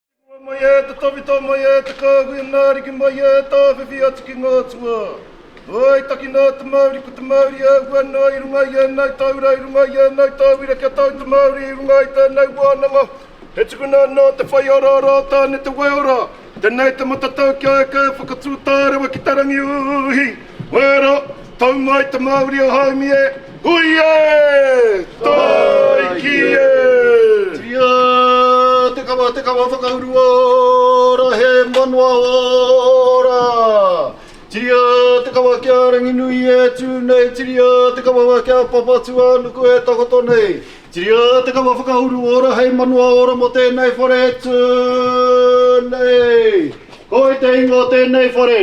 Te Moa mai e, te Tawhito mai e, te Kāhui a ngā Ariki mai e, tāwhiwhi atu ki ngā atua. Āe, takina a te Māori, ko te Māori e ahu ana i runga i ēnei taura, i runga i ēnei tauira kia tau te Māori i runga i tēnei wānanga. He tukuna anō te whai araara o Tāne Te Waeora, tēnei te matatau kia eke e whakatū tārewa ki te rangi uhi. Wera, tau mai te Mauri o Haumi e! Hui e! Taiki e! Tia te kawa, te kawa whakauru ora, he manawa ora! Tiria te kawa ki a Ranginui e tū nei, tiria te kawa ki a Papatūānuku e takoto nei. Tiria te kawa whakauru ora, hei manawa ora mō tēnei whare e tū nei. Koi te ingoa o tēnei whare?